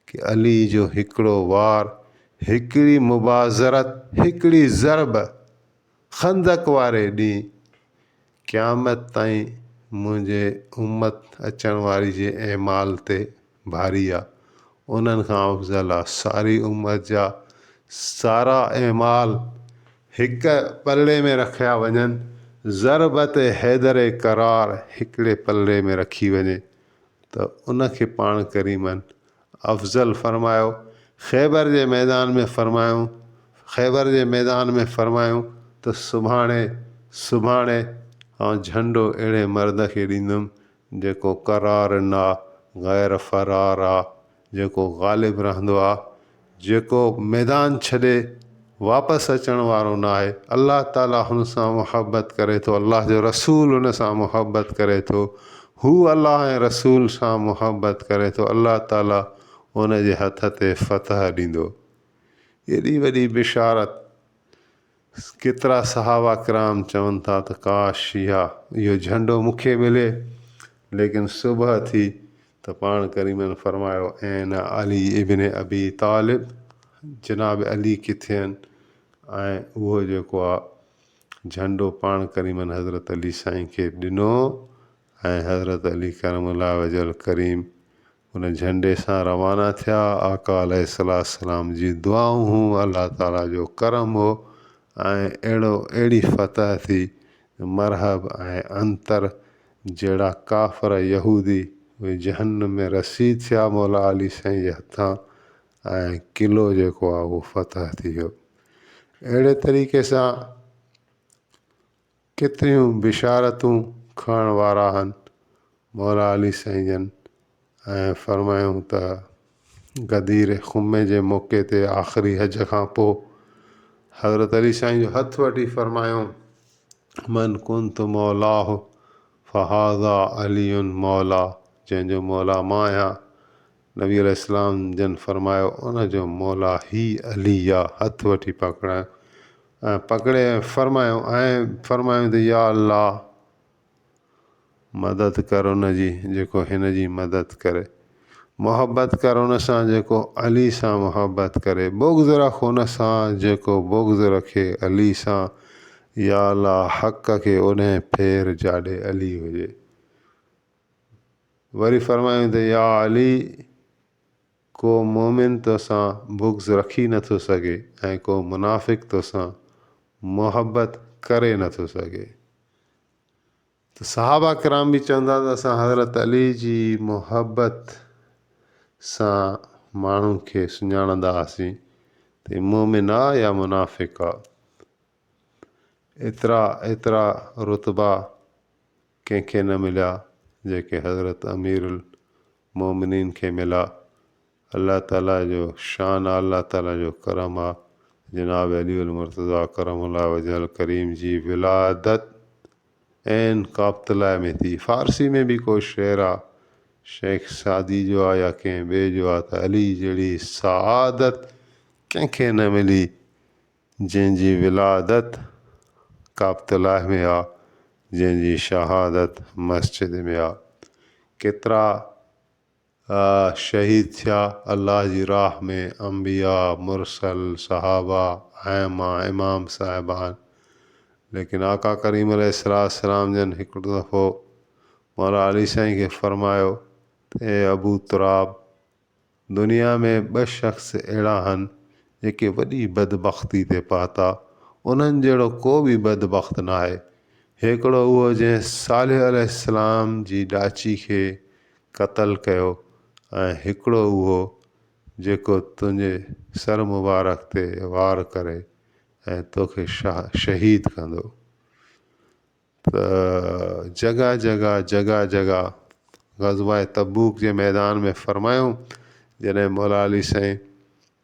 ڪي علي جو هڪڙو وار، هڪڙي مبازرت، هڪڙي ضرب، خندق واري ڏينهن قيامت تائين منهنجي امت اچڻ واري جي اعمال تي ڀاري آ، انهن کان افضل آ ساري امت جا سارا اعمال. هڪ پلڙي ۾ رکيا وڃن، ضربت حيدر ڪرار هڪڙي پلڙي ۾ رکي وڃي ته ان کي پاڻ ڪريمن افضل فرمايو، خيبر جي ميدان ۾ فرمايون، خيبر جي ميدان ۾ فرمايون ته سڀاڻي، سڀاڻي آئون جهنڊو اهڙي مرد کي ڏيندم جيڪو قرار نه آ، غير فرار آ، جيڪو غالب رهندو آ، جيڪو ميدان ڇڏي واپس اچڻ وارو ناهي، الله تعاليٰ هن سان محبت ڪري ٿو، الله جو رسول هن سان محبت ڪري ٿو، هو الله ۽ رسول سان محبت ڪري ٿو، الله تعاليٰ ان جي هٿ تي فتح ڏيندو. ايڏي وڏي بشارت! ڪيترا صحابه ڪرام چون ٿا ته ڪاش اها اهو جهنڊو مون کي ملي ليڪن صبح ٿي ته پاڻ ڪريمن فرمايو اين علي ابن ابي طالب جناب علي ڪٿي آهن ۽ اهو جيڪو آ جهنڊو پاڻ ڪريمن حضرت علي سائين کي ڏنو ۽ حضرت علي ڪرم الله وجه الڪريم ان جهنڊي سان روانا ٿيا، آقا عليه السلام جي دعائون هون الله تعالي جو ڪرم هو ۽ اهڙو اهڙي فتح ٿي جو مرحب ۽ عنتر جهڙا ڪافر يهودي اهي جهنم ۾ رسيد ٿيا مولا علي سائين جي هٿان ۽ قلعو جيڪو آهي اهو فتح ٿي ويو اهڙي طريقي سان ڪيتريون بشارتون کڻڻ وارا هن مولا علي سائين جن ۽ فرمايائون ته غدير خمي جي موقعي تي آخري حج کان پوء حضرت علي سائين جو هٿ وٺي فرمايائون من ڪنت مولاه فهذا علي مولا جنهن جو مولا مان آهيان نبي عليه السلام جن فرمايو، ان جو مولا هي علي يا هٿ وٺي پڪڙائيون ۽ پڪڙي ۽ فرمايون ۽ فرمايون ته يا الله! مدد ڪر ان جي جيڪو هن جي مدد ڪري. محبت ڪر ان سان جيڪو علي سان محبت ڪري. بغض رک ان سان جيڪو بغض رکي علي سان. يا الله! حق کي اوڏهين ڦير جاڏي علي هجي. وري فرمايائون ته يا علي! ڪو مؤمن توسان بغض رکي نه ٿو سگهي ۽ ڪو منافق توسان محبت ڪري نه ٿو سگهي. ته صحابه ڪرام به چوندا ته اسان حضرت علي جي محبت سان ماڻهن کي سڃاڻندا هئاسين ته هي مؤمن آ يا منافق آ. ايترا ايترا رتبا ڪنهن کي نه مليا جيڪي حضرت اميرالمومنين کي ملا الله تعالي جو شان آ الله تعالي جو ڪرم آ جناب علي المرتضيٰ ڪرم الله وجه الڪريم جي ولادت عين ڪابتلاء ۾ ٿي فارسي ۾ به ڪو شعر آ شيخ سعدي جو آ يا ڪنهن ٻئي جو آ ته علي جهڙي سعادت ڪنهن کي نه ملي جنهن جي ولادت ڪعبت الله ۾ آ، جنهن جي شهادت مسجد ۾ آ. ڪيترا شهيد ٿيا الله جي راهه ۾ انبياء، مرسل، صحابه، ائمه، امام صاحبان ليڪن آقا ڪريم عليه السلام جن هڪڙو دفعو مولا علي سائين کي فرمايو ته اي ابو تراب! دنيا ۾ ٻه شخص اهڙا هن جيڪي وڏي بدبختي تي پهتا، انهن جهڙو ڪو به بدبخت ناهي. هيڪڙو اهو جنهن صالح عليه السلام جي ڏاچي کي قتل ڪيو ۽ هڪڙو اهو جيڪو تنهنجي سر مبارڪ تي وار ڪري ۽ توکي شهيد ڪندو. ته جڳهه جڳهه جڳهه جڳهه غزوه تبوڪ جي ميدان ۾ فرمايو جڏهن مولا علي سائين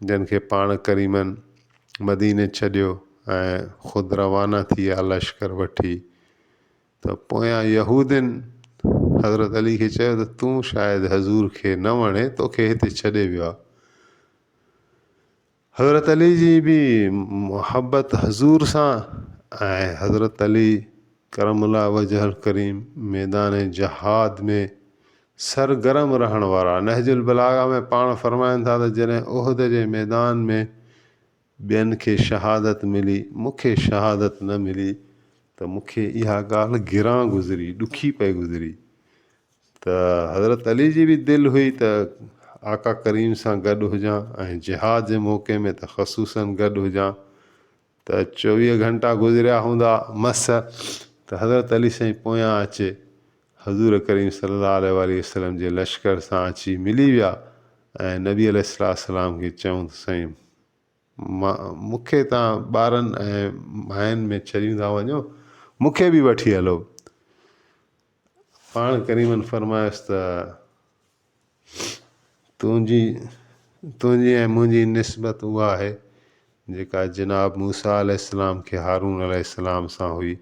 جن کي پاڻ ڪريمن مديني ڇڏيو ۽ خود روانا ٿي ويا لشڪر وٺي ته پويان يهودين حضرت علي کي چيو ته تون شايد حضور کي نه وڻي توکي هتي ڇڏي ويو آهي حضرت علي جي به محبت حضور سان ۽ حضرت علي ڪرم الله وجهه الڪريم ميدان جهاد ۾ سرگرم رهڻ وارا نهج البلاغه ۾ پاڻ فرمائن ٿا ته جڏهن احد جي ميدان ۾ ٻين کي شهادت ملي مون کي شهادت نه ملي ته مون کي اها ڳالهه گران گذري ڏکي پئي گذري ته حضرت علي جي به دل هئي ته آقا ڪريم سان گڏ هجان ۽ جهاد جي موقعي ۾ ته خصوصاً گڏ هجان ته چوويهه گهنٽا گذريا هوندا مس ته حضرت علي سائين پويان اچي حضور ڪريم صلي الله عليه واٰله وسلم جي لشڪر سان اچي ملي ويا ۽ نبي عليه السلام کي چيون ته سائين مون کي تان ٻارن ۽ ماين ۾ ڇڏيون ٿا وڃو مون کي به وٺي هلو پاڻ ڪريمن فرمايس ته، تنهنجي تنهنجي ۽ منهنجي نسبت اها آهي، جيڪا جناب موسيٰ عليه السلام کي هارون عليه السلام سان هئي،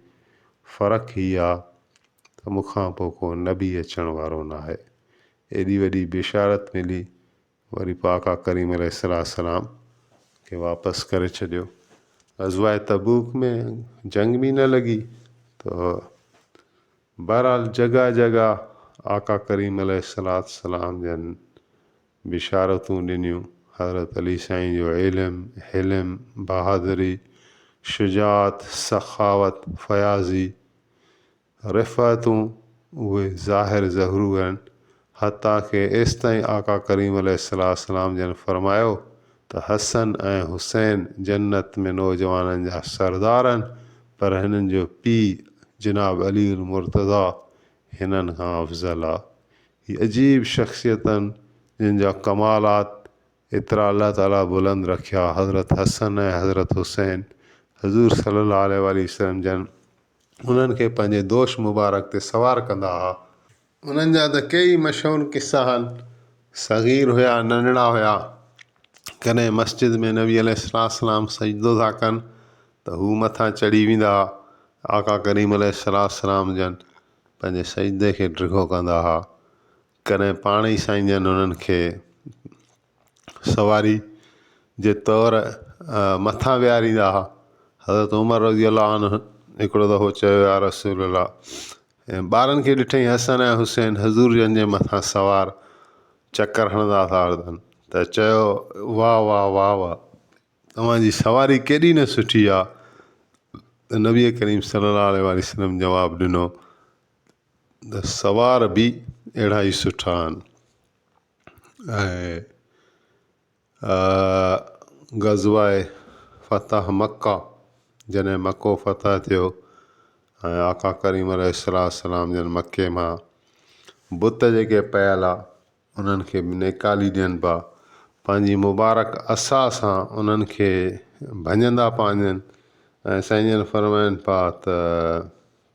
فرق هي آ ته مون کان پوء ڪو نبي اچڻ وارو ناهي. ايڏي وڏي بشارت ملي. وري پوء آقا ڪريم عليه السلام کي واپس ڪري ڇڏيو. غزوه تبوڪ ۾ جنگ به نه لڳي ته بهرحال جڳهه جڳهه آقا ڪريم عليه السلام جن بشارتون ڏنيون، حضرت علي سائين جو علم، حلم، بهادري، شجاعت، سخاوت، فياضي، رفعتون اهي ظاهر ظهرو آهن، حتيٰ ڪه ايستائين آقا ڪريم عليه السلام جن فرمايو ته حسن ۽ حسين جنت ۾ نوجوانن جا سردار آهن، پر هنن جو پيء جناب علي المرتضيٰ هنن کان افضل آهي. هي عجيب شخصيت آهن، جن جا ڪمالات ايترا الله تعاليٰ بلند رکيا، حضرت حسن ۽ حضرت حسين حضور صلي الله عليه وآله وسلم جن انهن کي پنهنجي دوش مبارڪ تي سوار ڪندا ها. انهن جا ته ڪيئي مشهور قصا آهن. صغير هيا، ننڍڙا هيا، ڪڏهن مسجد ۾ نبي عليه السلام سجدو ٿا ڪن ته هو مٿان چڙهي ويندا ها، آقا ڪريم عليه السلام جن پنهنجي سجدي کي ڊگهو ڪندا ها، ڪڏهن پاڻ ئي سائين جن انهن کي. سواري جي طور مٿان ويهاريندا هئا حضرت عمر رضي الله عنه هڪڙو دفعو چيو يا رسول الله ۽ ٻارن کي ڏٺئي حسن ۽ حسين حضور جن جي مٿان سوار چڪر هڻندا ٿا هلن ته چيو واه واه واه واه اوهان جي سواري ڪيڏي نه سٺي آ ته نبي ڪريم صلي الله عليه وآله وسلم جواب ڏنو ته سوار بي اهڙا ئي سٺا آهن ۽ غزوه فتح مڪه جڏهن مڪو فتح ٿيو ۽ آقا ڪريم عليه الصلوة والسلام جن مڪي مان بت جيڪي پيل آ انهن کي به نيڪالي ڏين پيا پنهنجي مبارڪ عصا سان انهن کي ڀڃندا پانجن ۽ سائين جن فرمائن پيا ته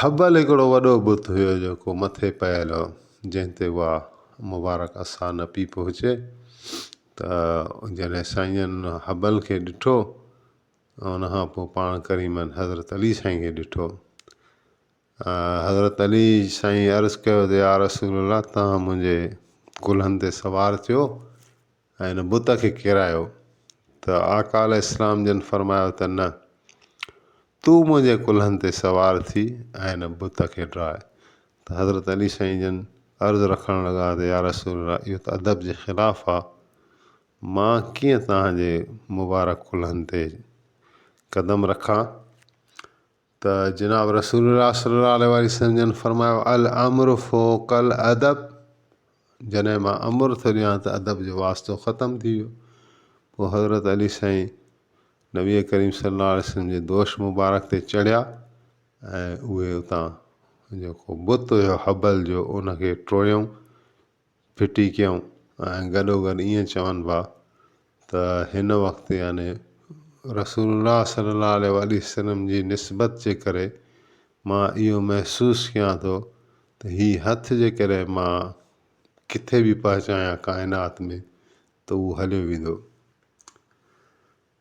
هبل هڪڙو وڏو بت هيو جيڪو مٿي پيل هو جنهن تي اها مبارڪ عصا نه پئي پهچي ته جڏهن سائين هبل کي ڏٺو ۽ ان کان پوء پاڻ ڪريمن حضرت علي سائين کي ڏٺو حضرت علي سائين عرض ڪيو ته يا رسول الله تون منهنجي ڪلهن تي سوار ٿيو ۽ هن بت کي ڪيرايو ته آقا عليه السلام جن فرمايو ته نه تون منهنجي ڪلهن تي سوار ٿي ۽ هن بت کي ڊاء ته حضرت علي سائين جن عرض رکڻ لڳا ته يارسول الله اهو ته ادب جي خلاف آ مان ڪيئن توهان جي مبارڪ ڪلهن تي قدم رکان ته جناب رسول الله صلي الله عليه وآله وسلم جن فرمايو الامر فوق الادب جڏهن مان امر ٿو ڏيان ته ادب جو واسطو ختم ٿي ويو پوء حضرت علي سائين نبي ڪريم صلي الله عليه وسلم جي دوش مبارڪ تي چڙهيا ۽ اهي اتان جيڪو بت هيو حبل جو ان کي ٽوڙيائون ڦٽي ڪيائون ۽ گڏوگڏ ائين چون پيا ته هن وقت يعني رسول الله صلي الله عليه واٰله وسلم جي نسبت جي ڪري مان اهو محسوس ڪيان ٿو ته هي هٿ جي ڪري مان ڪٿي به پهچان هان ڪائنات ۾ ته اهو هليو ويندو.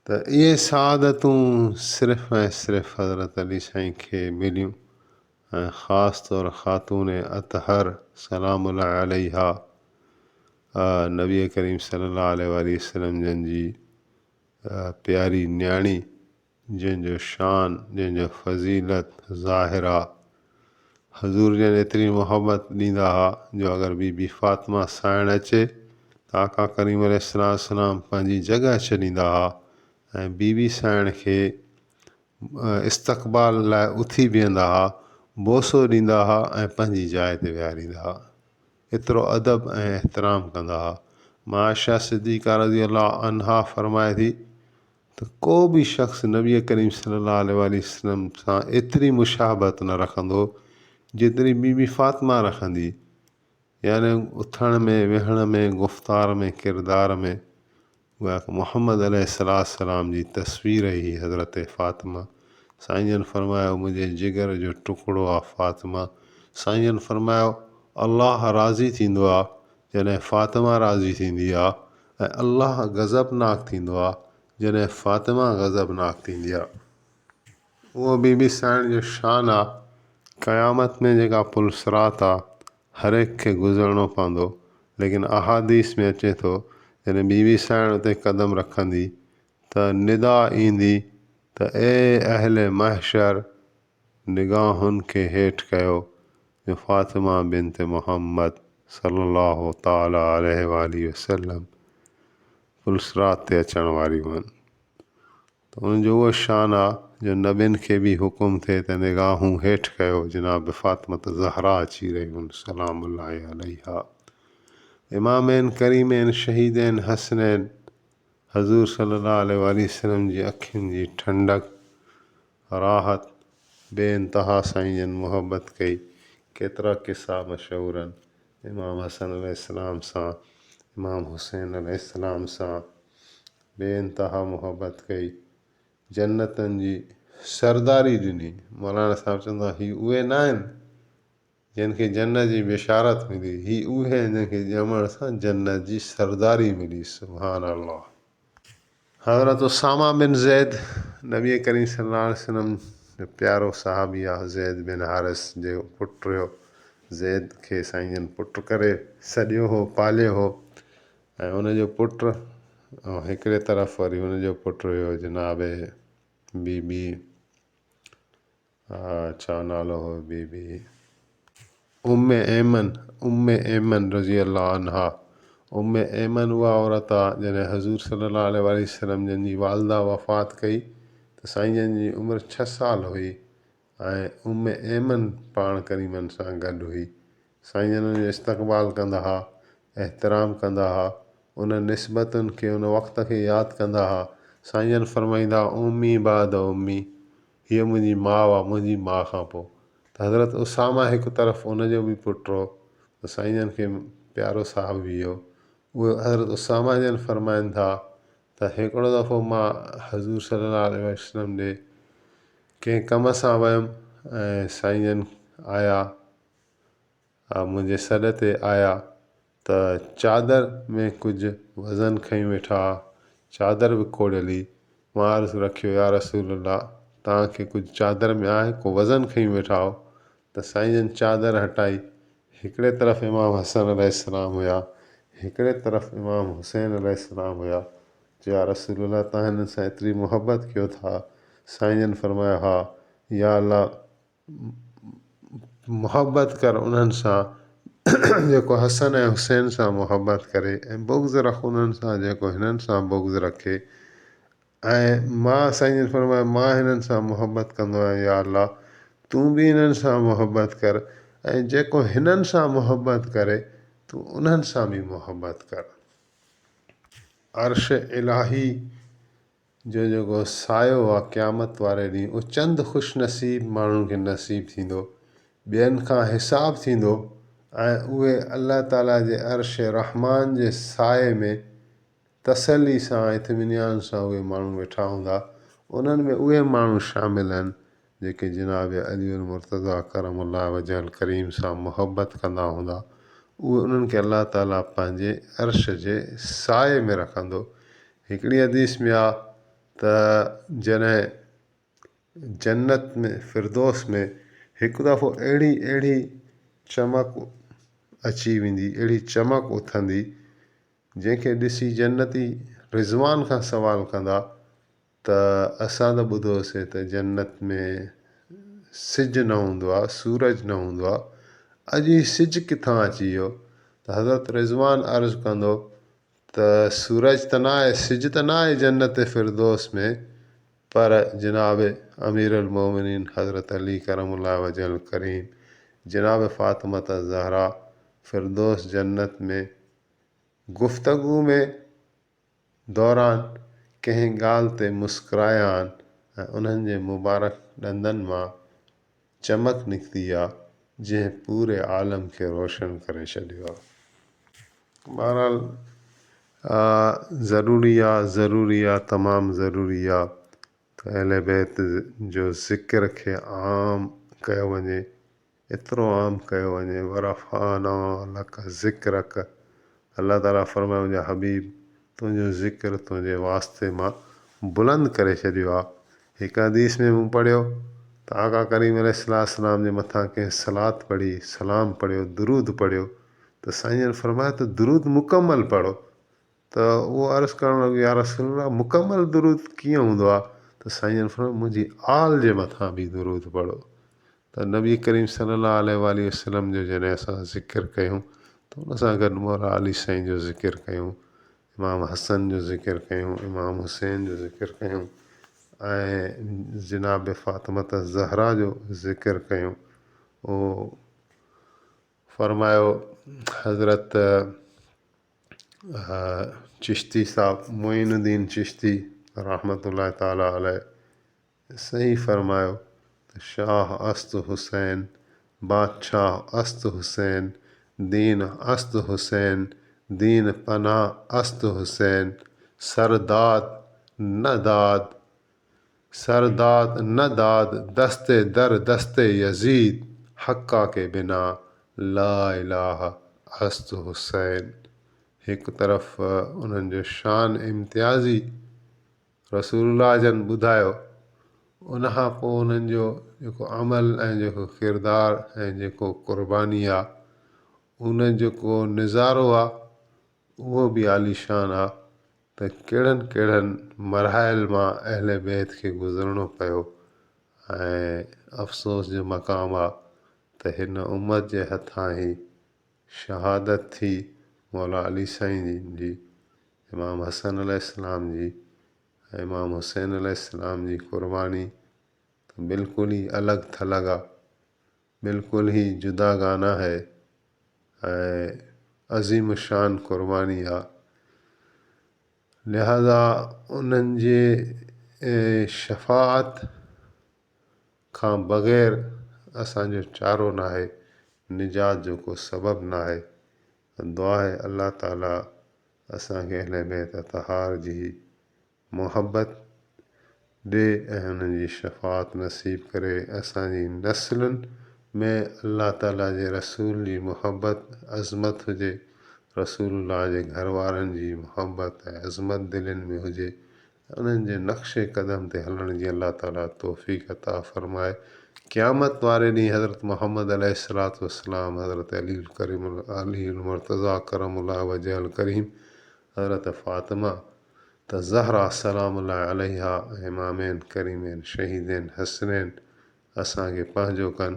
ته اهي سعادتون صرف ۽ صرف حضرت علي سائين کي مليون ۽ خاص طور خاتون اطهر سلام الله عليها نبي ڪريم صلي الله عليه واٰله وسلم جن جي پياري نياڻي جنهن جو شان جنهن جو فضيلت ظاهره حضور جن ايتري محبت ڏيندا ها جو اگر بي بي فاطمه سائڻ اچي ته آقا ڪريم عليه السلام پنهنجي جڳهه ڇڏيندا ها ۽ بي بي سائڻ کي استقبال لاء اٿي بيهندا ها، بوسو ڏيندا ها ۽ پنهنجي جاء تي ويهاريندا ها. ايترو ادب ۽ احترام ڪندا ها. مان عائشه صديقه رضي الله عنها فرمائي ٿي. ته ڪو به شخص نبي ڪريم صلي الله عليه واٰله وسلم سان ايتري مشابهت نه رکندو جيتري بي بي فاطمه رکندي يعني اٿڻ ۾ ويهڻ ۾ گفتار ۾ ڪردار ۾ گويا ته محمد عليه السلام جي تصوير هي حضرت فاطمه سائين جن فرمايو منهنجي جگر جو ٽڪڙو آ فاطمه سائين جن فرمايو الله راضي ٿيندو آ جڏهن فاطمه راضي ٿيندي آ ۽ الله غضبناڪ ٿيندو آهي جڏهن فاطمه غضبناڪ ٿيندي آهي. اهو بي بي سائڻ جو شان آهي. قيامت ۾ جيڪا پل صراط آهي هرهڪ کي گذرڻو پوندو ليڪن احاديث ۾ اچي ٿو جڏهن بي بي سائڻ اتي قدم رکندي ته ندا ايندي ته اي اهل محشر نگاهن کي هيٺ ڪيو جو فاطمه بنت محمد صلّي الله تعالٰي عليه واٰله وسلّم پلصراط تي اچڻ واريون هن ته ان جو اهو شان آ جو نبين کي به حڪم ٿئي ته نگاهون هيٺ ڪيو جناب فاطمه الزهراء اچي رهيون هن سلام الله عليها امامين ڪريمين شهيدين حسنين حضور صلي الله عليه واٰله وسلم جي اکين جي ٺنڊڪ، راحت، بي انتها سائين جن محبت ڪئي، ڪيترا قصا مشهورن امام حسن عليه السلام سان امام حسين عليه السلام سان بي انتها محبت ڪئي، جنتن جي سرداري ڏني، مولانا صاحب چوندا هي اهي ناهن جن کي جنت جي بشارت ملي. هي اهي آهن جن کي ڄمڻ سان جنت جي سرداري ملي. سبحان الله. حضرت اسامه بن زيد نبي ڪريم صلي الله عليه وسلم جو پيارو صحابي آ زيد بن حارث جي پٽ هيو زيد کي سائين جن پٽ ڪري سڏيو هو پاليو هو ۽ ان جو پٽ ۽ هڪڙي طرف وري ان جو پٽ هيو جناب بي بي ها ڇا نالو هو بي بي ام ايمن ام ايمن رضي الله عنها ام ايمن اها عورت آ جڏهن حضور صلي الله عليه وآله وسلم جن جي والده وفات ڪئي ته سائين جن جي عمر ڇهه سال هئي ۽ ام ايمن پاڻ ڪريمن سان گڏ هئي سائين جن ان جو استقبال ڪندا ها احترام ڪندا ها ان نسبتن کي ان وقت کي ياد ڪندا ها سائين جن فرمائيندا امي بعد امي هيء منهنجي ماء آ، منهنجي ماء کان پوء ته حضرت اسامه هڪ طرف ان جو به پٽ هو ته سائين جن کي پيارو صاحب به هو. اهي حضرت اسامه جن فرمائن ٿا ته هڪڙو دفعو مان حضور صلي الله عليه وسلم ڏي ڪنهن ڪم سان ويم ۽ سائين جن آيا. آ منهنجي سڏ تي آيا ته چادر ۾ ڪجهه وزن کنئي ويٺا ها. چادر به کوڙيل هئي. مان عرض رکيو يا رسول الله توهان کي ڪجهه چادر ۾ آهي ڪو وزن کنئي ويٺا آهو ته سائين جن چادر هٽائي. هڪڙي طرف امام حسن عليه السلام هيا هڪڙي طرف امام حسين عليه السلام هيا. چيو يا رسول الله توهان هنن سان ايتري محبت ڪيو ٿا؟ سائين جن فرمايو ها. يا الله! محبت ڪر انهن سان جيڪو حسن ۽ حسين سان محبت ڪري ۽ بغض رک انهن سان جيڪو هنن سان بغض رکي ۽ ماء سائين جن فرمايو ماء هنن سان محبت ڪندو آهيان يا الله تون بي هنن سان محبت ڪر ۽ جيڪو هنن سان محبت ڪري تو انهن سان بي محبت ڪر عرش الاهي جو جيڪو سايو آ قيامت واري ڏينهن اهو چند خوش نصيب ماڻهن کي نصيب ٿيندو ٻين کان حساب ٿيندو ۽ اهي الله تعالي جي عرش رحمان جي سايي ۾ تسلي سان اطمينان سان اهي ماڻهو ويٺا هوندا انهن ۾ اهي ماڻهو شامل آهن جيڪي جناب علي المرتضيٰ ڪرم الله وجه الڪريم سان محبت ڪندا هوندا، اهي انهن کي الله تعاليٰ پنهنجي عرش جي سايي ۾ رکندو. هڪڙي حديث ۾ آ ته جڏهن جنت ۾ فردوس ۾ هڪ دفعو اهڙي اهڙي چمڪ اچي ويندي، اهڙي چمڪ اٿندي، جنهن کي ڏسي جنتي رضوان کان سوال ڪندا، ته اسان ته ٻڌو سين ته جنت ۾ سج نه هوندو آهي سورج نه هوندو آهي اڄ هي سج ڪٿان اچي ويو ته حضرت رضوان عرض ڪندو ته سورج ته نه آهي سج ته نه آهي جنت فردوس ۾ پر جناب امير المومنين حضرت علي ڪرم الله وجه الڪريم جناب فاطمة الزهراء فردوس جنت ۾ گفتگو ۾ دوران ڪنهن ڳالهه تي مسڪرايا آهن ۽ انهن جي مبارڪ ڏندن مان چمڪ نڪتي آ جنهن پوري عالم کي روشن ڪري ڇڏيو آ. بهرحال ضروري آ ضروري آ تمام ضروري آ ته اهل بيت جو ذڪر کي عام ڪيو وڃي ايترو عام ڪيو وڃي ورفعنا لک ذڪرک الله تعالي فرمايو منهنجا حبيب تنهنجو ذڪر تنهنجي واسطي مان بلند ڪري ڇڏيو آ هڪ حديث ۾ مون پڙهيو ته آقا ڪريم عليه الصلوة والسلام جي مٿان ڪنهن صلات پڙهي سلام پڙهيو درود پڙهيو ته سائين جن فرمايو ته درود مڪمل پڙهو ته هو عرض ڪرڻ لڳو يارسول الله مڪمل درود ڪيئن هوندو آهي ته سائين جن فرمايو منهنجي آل جي مٿان به درود پڙهو ته نبي ڪريم صلي الله عليه واٰله وسلم جو جڏهن اسان ذڪر ڪيون ته ان سان گڏ مولا علي سائين جو ذڪر ڪيون امام حسن جو ذڪر ڪيون امام حسين جو ذڪر ڪيون ۽ جناب فاطمت زهرا جو ذڪر ڪيون اهو فرمايو حضرت چشتي صاحب معين الدين چشتي رحمة الله تعالٰي عليه صحيح فرمايو ته شاهه است حسين بادشاهه است حسين دين است حسين دين پناهه است حسين سر داد نه داد سرداد نه داد دست در دست يزيد حقا ڪي بنا لا اله است حسين هڪ طرف انهن جو شان امتيازي رسول الله جن ٻڌايو ان کان پوء انهن جو جيڪو عمل ۽ جيڪو ڪردار ۽ جيڪو قرباني آ ان جيڪو نظارو آ اهو به عاليشان آ ته ڪهڙن ڪهڙن مراحل مان اهل بيت کي گذرڻو پيو ۽ افسوس جو مقام آ ته هن امت جي هٿان هي شهادت ٿي مولا علي سائين جن جي امام حسن عليه السلام جي ۽ امام حسين عليه السلام جي قرباني ته بلڪل ئي الڳ ٿلڳ آ بلڪل هي جدا گانا هي ۽ عظيم الشان قرباني آ لهذا انهن جي شفاعت کان بغير اسان جو چارو ناهي نجات جو ڪو سبب ناهي دعا آهي الله تعالي اسان کي اهل بيت اطهار جي محبت ڏي ۽ انهن جي شفاعت نصيب ڪري اسان جي نسلن ۾ الله تعالي جي رسول جي محبت عظمت هجي رسول الله جي گهر وارن جي محبت ۽ عظمت دلين ۾ هجي ۽ انهن جي نقش قدم تي هلڻ جي الله تعالي توفيق عطا فرمائي قيامت واري ڏينهن حضرت محمد عليه الصلوة والسلام حضرت علي الڪريم علي المرتضيٰ ڪرم الله وجهه الڪريم حضرت فاطمه ته زهرا سلام الله عليها ۽ امامين ڪريمين شهيدين حسنين اسان کي پنهنجو ڪن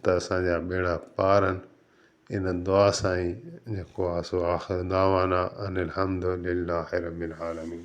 ته اسان جا ٻيڙا پارن ان دعا سان ئي جيڪو آهي سو آخر دعوانا ان الحمد لله رب العالمين.